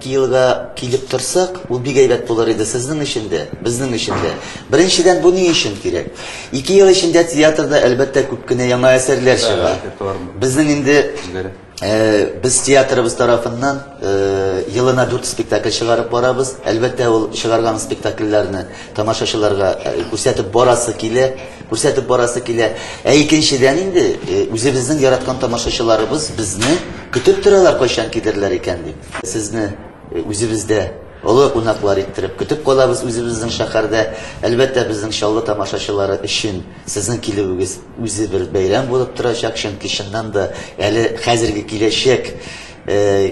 Киелга килеп торсак, ул бик әйбәт булыр иде сезнең өчен дә, безнең өчен дә. Беренчедән, бу ни өчен кирәк? Ике ел эчендә театрда, әлбәттә, күп кенә яңа әсәрләр чыга. Безнең инде, без театрыбыз тарафыннан елына дүрт спектакль чыгарып барабыз. Әлбәттә, ул чыгарган спектакльләрне тамашачыларга күрсәтеп барасы килә, күрсәтеп барасы килә. Ә икенчедән инде, үзебезнең яраткан тамашачыларыбыз безне көтеп торалар, кайчан килерләр икән дип. Сезне үзебездә олы кунаклар иттереп көтеп калабыз үзебезнең шәһәрдә. Әлбәттә, безнең Чаллы тамашачылары өчен сезнең килүегез үзе бер бәйрәм булып торачак, чөнки чыннан да әле хәзерге киләчәк,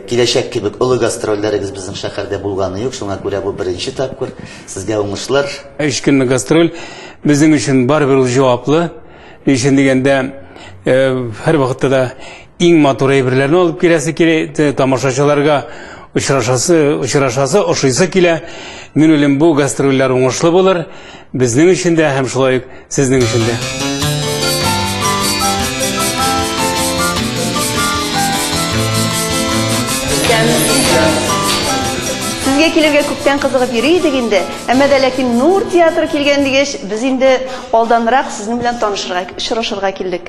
киләчәк кебек олы гастрольләрегез безнең шәһәрдә булганы юк, шуңа күрә бу беренче тапкыр. Сезгә уңышлар! Өч көнлек гастроль безнең өчен барыбер ул җаваплы. Ни өчен дигәндә, һәрвакытта да Иң матур әйберләрне алып киләсе килә, тамашачыларга очрашасы, очрашасы, ошыйсы килә. Мин уйлыйм, бу гастрольләр уңышлы булыр. Безнең өчен дә һәм шулай ук сезнең өчен дә. Сезгә килергә күптән кызыгып йөри идек инде, әмма дә ләкин Нур театры килгән дигәч, без инде алданрак сезнең белән танышырга, очрашырга килдек.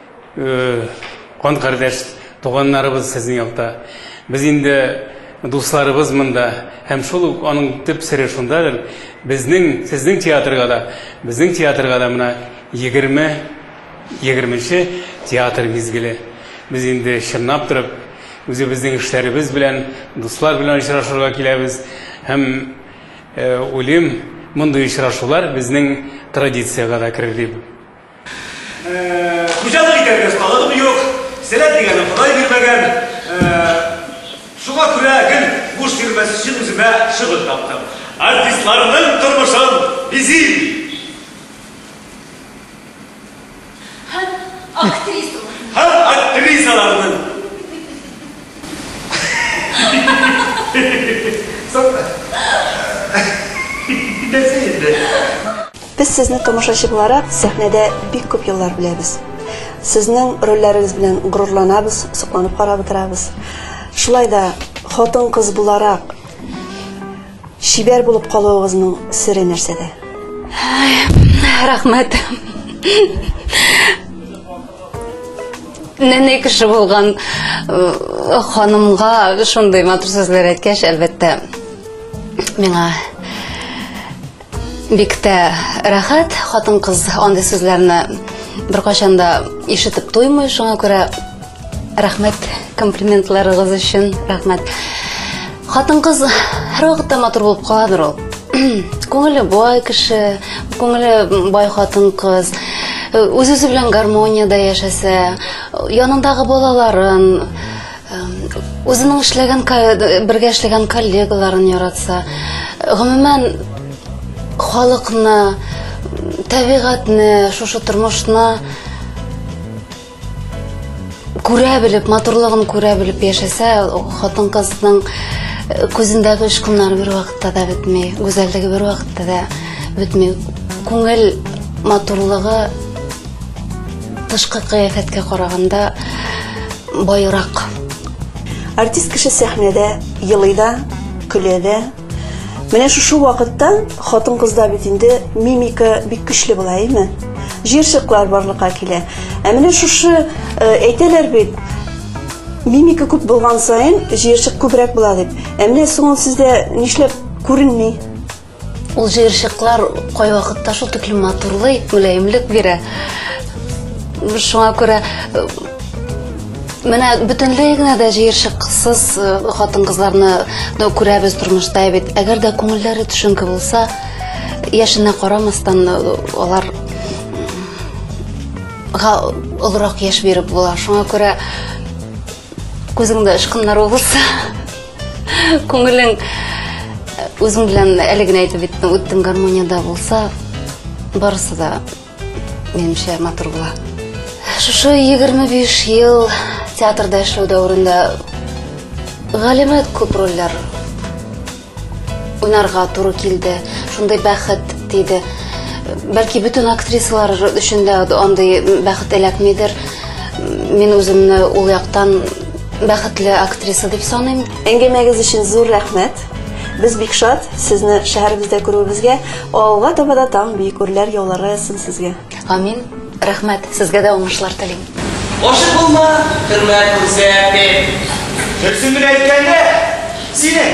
Кан кардәш туганнарыбыз сезнең якта. Без инде дусларыбыз монда. Һәм шул ук аның төп сере шундадыр. Безнең, сезнең театрга да, безнең театрга да менә 20, 20 нче театр мизгеле. Без инде чынлап торып, үзебезнең эшләребез белән, дуслар белән очрашырга киләбез. Һәм уйлыйм, мондый очрашулар безнең традициягә дә керер дип. Хуҗалык итәргә осталыгым юк, сәләт дигәнне Ходай бирмәгән. Шуңа күрә гел буш йөрмәс өчен үземә шөгыль таптым. Артистларның тормышын бизим! Һәм актрисаларның. Һәм актрисаларның. Соң, нәрсә инде? Без сезне тамашачы буларак сәхнәдә бик күп еллар беләбез. Сезнең рольләрегез белән горурланабыз, сокланып карап утырабыз. Шулай да хатын-кыз буларак чибәр булып калуыгызның сере нәрсәдә? Рәхмәт. Нәнәй кеше булган э, ханымга шундый матур сүзләр әйткәч, әлбәттә, миңа Бик тә рәхәт, хатын-кыз андый сүзләрне беркайчан да ишетеп туймый, шуңа күрә рәхмәт комплиментларыгыз өчен, рәхмәт. Хатын-кыз һәрвакытта матур булып каладыр ул. Күңеле бай кеше, күңеле бай хатын-кыз үз-үзе белән гармониядә яшәсә, янындагы балаларын, Үзенең эшләгән бергә эшләгән коллегаларын яратса, гомумән халыкны, табигатьне, шушы тормышны күрә белеп, матурлыгын күрә белеп яшәсә, хатын-кызның күзендәге очкыннар бер вакытта да бетми, гүзәллеге бер вакытта да бетми. Күңел матурлыгы тышкы кыяфәткә караганда байрак. Артист кеше сәхнәдә елый да, көлә дә. Менә шушы вакытта хатын-кызда бит инде мимика бик көчле була, әйме? Җирчыклар барлыкка килә. Ә менә шушы э, әйтәләр бит, мимика күп булган саен җирчык күбрәк була дип. Ә менә соң сездә нишләп күренми? Ул җыерчыклар кайвакытта шул тиклем матурлый, мөлаемлек бирә. Шуңа күрә э, менә бөтенләй генә дә җыерчыксыз э, хатын-кызларны да күрәбез тормышта бит. Әгәр дә күңелләре төшенке булса, яшенә карамастан э, алар га олырак яшь биреп була. Шуңа күрә күзеңдә очкыннар булса, Күңелең э, үзең белән әле генә әйтеп беттең, үттең гармониядә булса, барысы да минемчә матур була. Шушы 25 ел театрда эшләү дәверендә галимә күп рольләр уйнарга туры килде. Шундый бәхет диде. Бәлки бөтен актрисалар өчен дә андый бәхет эләкмидер. Мин үземне ул яктан Бәхетле актриса дип саныйм. Әңгәмәгез өчен зур рәхмәт. Без бик шат сезне шәһәребездә күрүебезгә. Алга таба да таң бик үрләр яулары яссын сезгә. Амин. Рәхмәт. Сезгә дә уңышлар телим. Гашык булма, хөрмәт күрсәт, дип. Дөресен генә әйткәндә, синең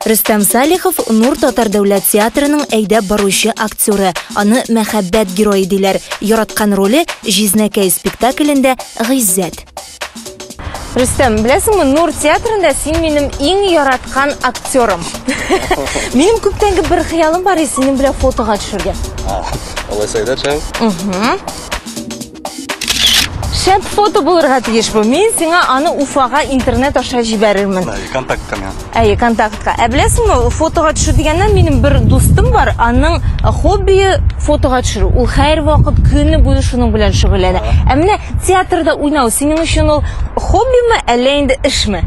Рөстәм Салихов Нур татар дәүләт театрының әйдәп баручы актеры. Аны мәхәббәт герое диләр. Яраткан роле Җизнәкәй спектаклендә Гыйззәт. Рөстәм, беләсеңме, Нур театрында син минем иң яраткан актерым. Минем күптәнге бер хыялым бар, синең белән фотога төшергә. Алай сәйдәшәм. Шәп фото булырга тиеш бу. Мин сиңа аны Уфага интернет аша җибәрермен. Әй, контактка миңа. Әй, контактка. Ә беләсеңме, фотога төшү дигәннән минем бер дустым бар, аның хоббие фотога төшерү. Ул һәр вакыт көне буе шуның белән шөгыльләнә. Ә менә театрда уйнау синең өчен ул хоббиме, әллә инде эшме?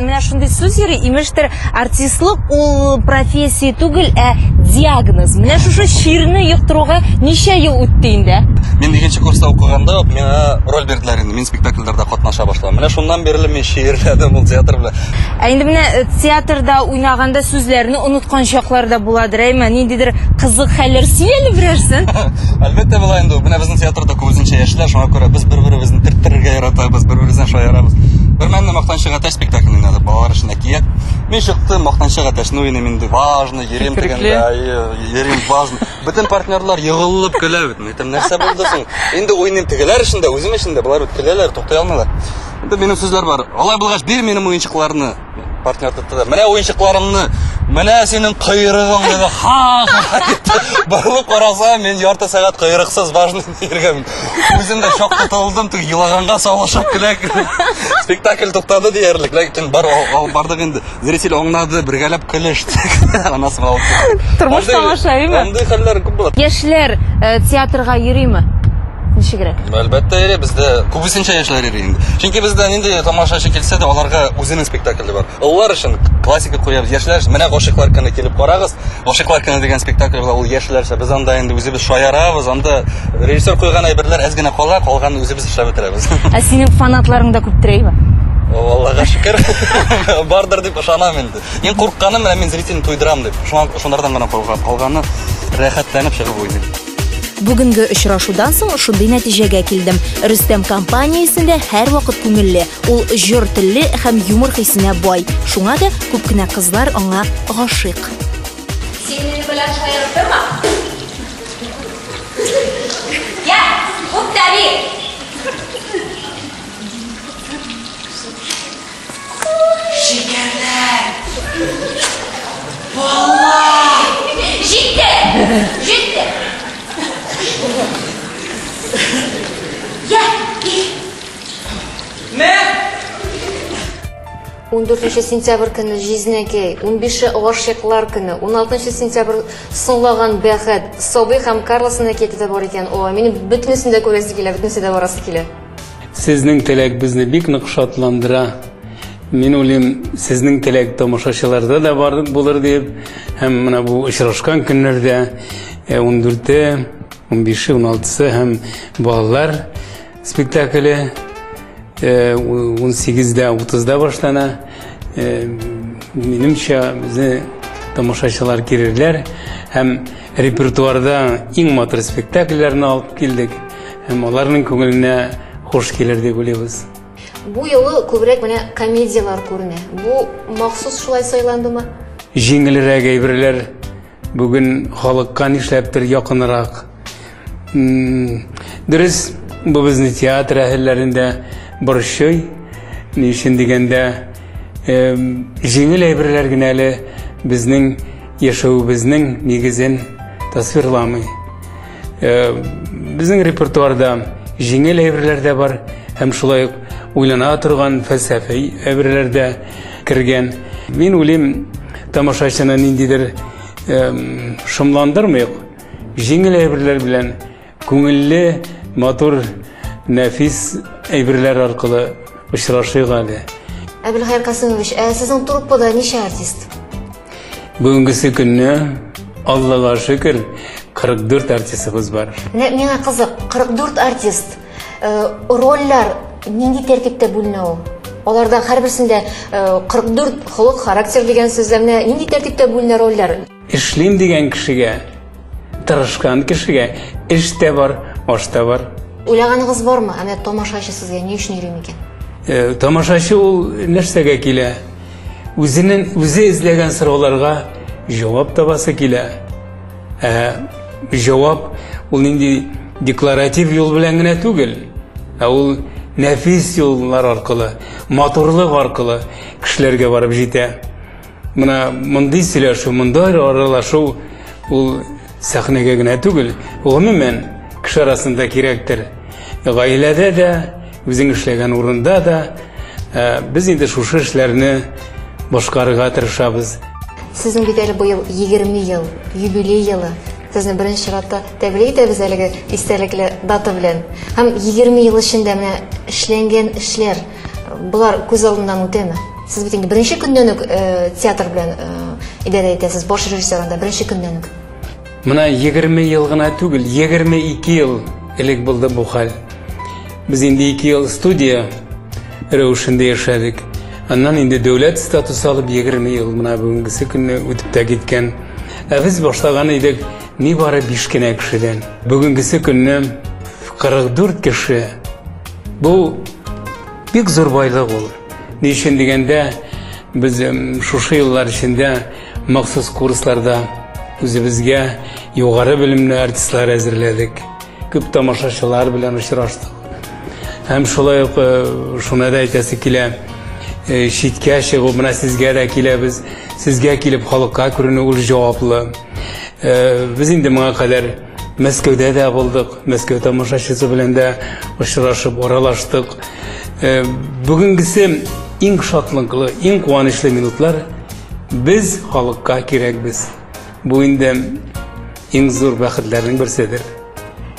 Менә шундый сүз йөри, имештер, артистлык ул профессия түгел, ә диагноз. Менә шушы чирне йоктыруга ничә ел үтте инде? Мин икенче курста укыганда ук миңа роль бирделәр инде, мин спектакльләрдә катнаша башладым. Менә шуннан бирле мин чиерләдем ул театр белән. Ә инде менә театрда уйнаганда сүзләрне оныткан чаклар да буладыр, әйме? Ниндидер кызык хәлләр сөйл әле берәрсен. Әлбәттә була инде ул. Менә безнең театрда күбесенчә яшьләр, шуңа күрә без бер-беребезне төрттерергә яратабыз, бер-беребездән шаярабыз. Бермәлне мактанып Мактанчык әтәч спектакль уйнады, балалар өчен әкият. Мин чыктым, Мактанчык әтәчне уйныйм инде, важно, йөрим дигәндә, йөрим важно. Бөтен партнерлар егылып көлә бит. Әйтәм, нәрсә булды соң? Инде уйныйм тегеләр өчен дә, үзем өчен дә, болар бит көләләр, туктый алмыйлар. Инде минем сүзләр бар. Алай булгач, бир минем уенчыкларны. Партнер тотты да, менә уенчыкларыңны, менә синең койрыгың, диде. Ха! Борылып караса, мин ярты сәгать койрыксыз важно Иргә мин үзем дә шок тотылдым, тик елаганга савышып кенә спектакль туктады диярлек, ләкин бар бардык инде. Зритель аңнады, бергәләп көлештек. Анасы мал. Тормыш тамашаимы? Андый хәлләр күп була. Яшьләр э, театрга йөриме? Ничегрәк? Әлбәттә, йөри бездә күбесенчә яшьләр йөри инде. Чөнки бездә нинди тамашачы килсә дә, аларга үзенең спектакле бар. Олылар өчен классика куябыз, яшьләр өчен менә гашыйклар көне килеп карагыз. Гашыйклар көне дигән спектакль бар, ул яшьләрчә. Без анда инде үзебез шаярабыз, анда режиссер куйган әйберләр әз генә кала, калган үзебез эшләп бетерәбез. Ә синең фанатларың да күптер, әйбә? Аллага шөкер, бардыр дип ышанам инде. Мин курыкканым, менә мин зритель туйдырам дип. Шуңа шунардан гына калганы, рәхәтләнеп чыгып уйныйм. Бүгенге очрашудан соң шундый нәтиҗәгә килдем. Рөстәм компаниясендә һәрвакыт күңелле. Ул җор телле һәм юмор хисенә бай. Шуңа да күп кенә кызлар аңа гашыйк. Син минем белән шаярып торма. Я, күп тәби! Шикәрләр! Баллар! Җитте! Җитте! Я, и! Мә! 14 сентябрь көне Җизнәкәй, 15 Гашыйклар көне, 16 сентябрь Соңлаган бәхет, Сабый һәм Карлсон әкияте дә бар икән. О, минем бөтенесен дә күрәсе килә, бөтенесе дә барасы килә. Сезнең теләк безне бик нык шатландыра. Мин уйлыйм, сезнең теләк тамашачыларда да бар булыр дип. Һәм менә бу очрашкан көннәрдә 14-е, 15-е, 16-сы һәм балалар спектакле 18-дә, 30-да башлана. Минемчә, безне тамашачылар кирерләр һәм репертуарда иң матур спектакльләрне алып килдек. Һәм аларның күңеленә хуш килер дип уйлыйбыз. Бу юлы күбрәк менә комедияләр күренә. Бу махсус шулай сайландымы? Җиңелрәк әйберләр бүген халыкка нишләптер якынрак. Дөрес, бу безне театр әһелләрендә борчый. Ни өчен дигәндә, җиңел әйберләр генә әле безнең яшәвебезнең нигезен тасвирламый. Безнең репертуарда җиңел әйберләр дә бар, һәм шулай ук уйлана торган фәлсәфи әйберләр дә кергән. Мин уйлыйм, тамашачыны ниндидер шомландырмыйк, җиңел әйберләр белән күңелле, матур, нәфис әйберләр аркылы очрашыйк әле. Әбелхәйр Касыймович, ә сезнең труппада ничә артист? Бүгенгесе көнне Аллага шөкер 44 артистыбыз бар. Менә миңа кызык, 44 артист. Э, рольләр нинди тәртиптә бүленә ул? Аларда һәрберсендә 44 э, холык, характер дигән сүзләрне нинди тәртиптә бүленә рольләр? Эшлим дигән кешегә, тырышкан кешегә эш тә бар, аш та бар. Уйлаганыгыз бармы? Әмә тамашачы сезгә ни өчен йөри микән? Э, тамашачы ул нәрсәгә килә? Үзенең үзе эзләгән сорауларга җавап табасы килә. Ә җавап ул нинди декларатив юл белән генә түгел, ә ул нәфис юллар аркылы, матурлык аркылы кешеләргә барып җитә. Мына мондый сөйләшү, мондый аралашу ул сәхнәгә генә түгел, гомумән кеше арасында кирәктер. Гаиләдә дә Үзең эшләгән урында да без инде шушы эшләрне башкарырга тырышабыз. Сезнең бит әле быел 20 ел, юбилей елы. Сезне беренче чиратта тәбрик итәбез әлеге истәлекле дата белән. Һәм 20 ел эчендә менә эшләнгән эшләр, болар күз алдыннан үтәме? Сез бит инде беренче көннән үк театр белән идарә итәсез, баш режиссер анда беренче көннән үк. Менә егерме ел гына түгел, егерме ике ел элек булды бу хәл. Без инде ике ел студия рәвешендә яшәдек. Аннан инде дәүләт статусы алып егерме ел менә бүгенгесе көнне үтеп тә киткән. Ә без башлаган идек нибары биш кенә кешедән. Бүгенгесе көнне 44 кеше. Бу бик зур байлык ул. Ни өчен дигәндә, без шушы еллар эчендә Махсус курсларда үзебезгә югары белемле артистлар әзерләдек. Күп тамашачылар белән очраштык. Һәм шулай ук э, шуны да әйтәсе килә, э, читкә чыгу, менә сезгә дә киләбез, сезгә килеп халыкка күренү ул җаваплы. Э, без инде моңа кадәр Мәскәүдә дә булдык, Мәскәү тамашачысы белән дә очрашып, аралаштык. Э, бүгенгесе иң шатлыклы, иң куанычлы минутлар без халыкка кирәкбез. Бу инде иң зур бәхетләрнең берседер.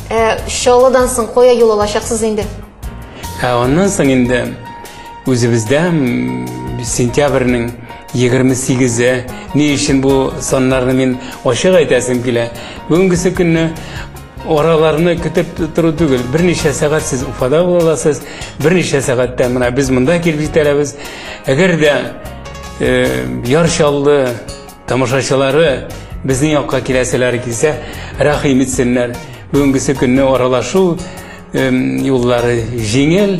Э, Чаллыдан соң кая юл алачаксыз инде? Ә аннан соң инде үзебездә сентябрьнең Егерме сигезе. Ни өчен бу саннарны мин ачык әйтәсем килә? Бүгенгесе көнне араларны көтеп тору түгел. Берничә сәгать сез Уфада була аласыз, берничә сәгатьтә менә без монда килеп җитәрбез. Әгәр дә э, яр чаллы тамашачылары безнең якка киләселәре килсә, рәхим итсеннәр. Бүгенгесе көнне аралашу э, юллары җиңел,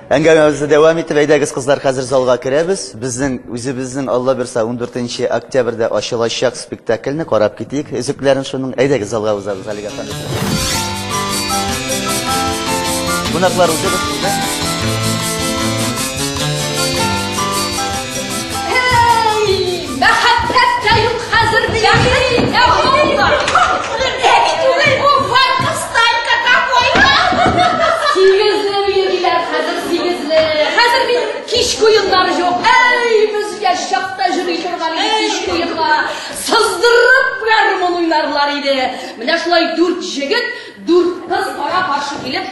Әңгәмәбезне дәвам итеп, әйдәгез, кызлар, хәзер залга керәбез. Безнең үзебезнең Алла бирса 14 октябрьдә ачылачак спектакльне карап китик. Өзекләрен шуның. Әйдәгез, залга узабыз, Алига ханым. Кунаклар узыгыз сезгә. Мәхәббәт тә юк хәзер бәхет тә калмаган. Әби түгел бу, водка станька какой-то. Сигезле өе диләр хәзер, сигезле. Хәзер бит кичке уеннар юк. Әй, безгә чакта йөри торган иде кичке уенга. Сыздырып гармун уйнарлар иде. Менә шулай дүрт җегет, дүрт кыз кара-каршы килеп,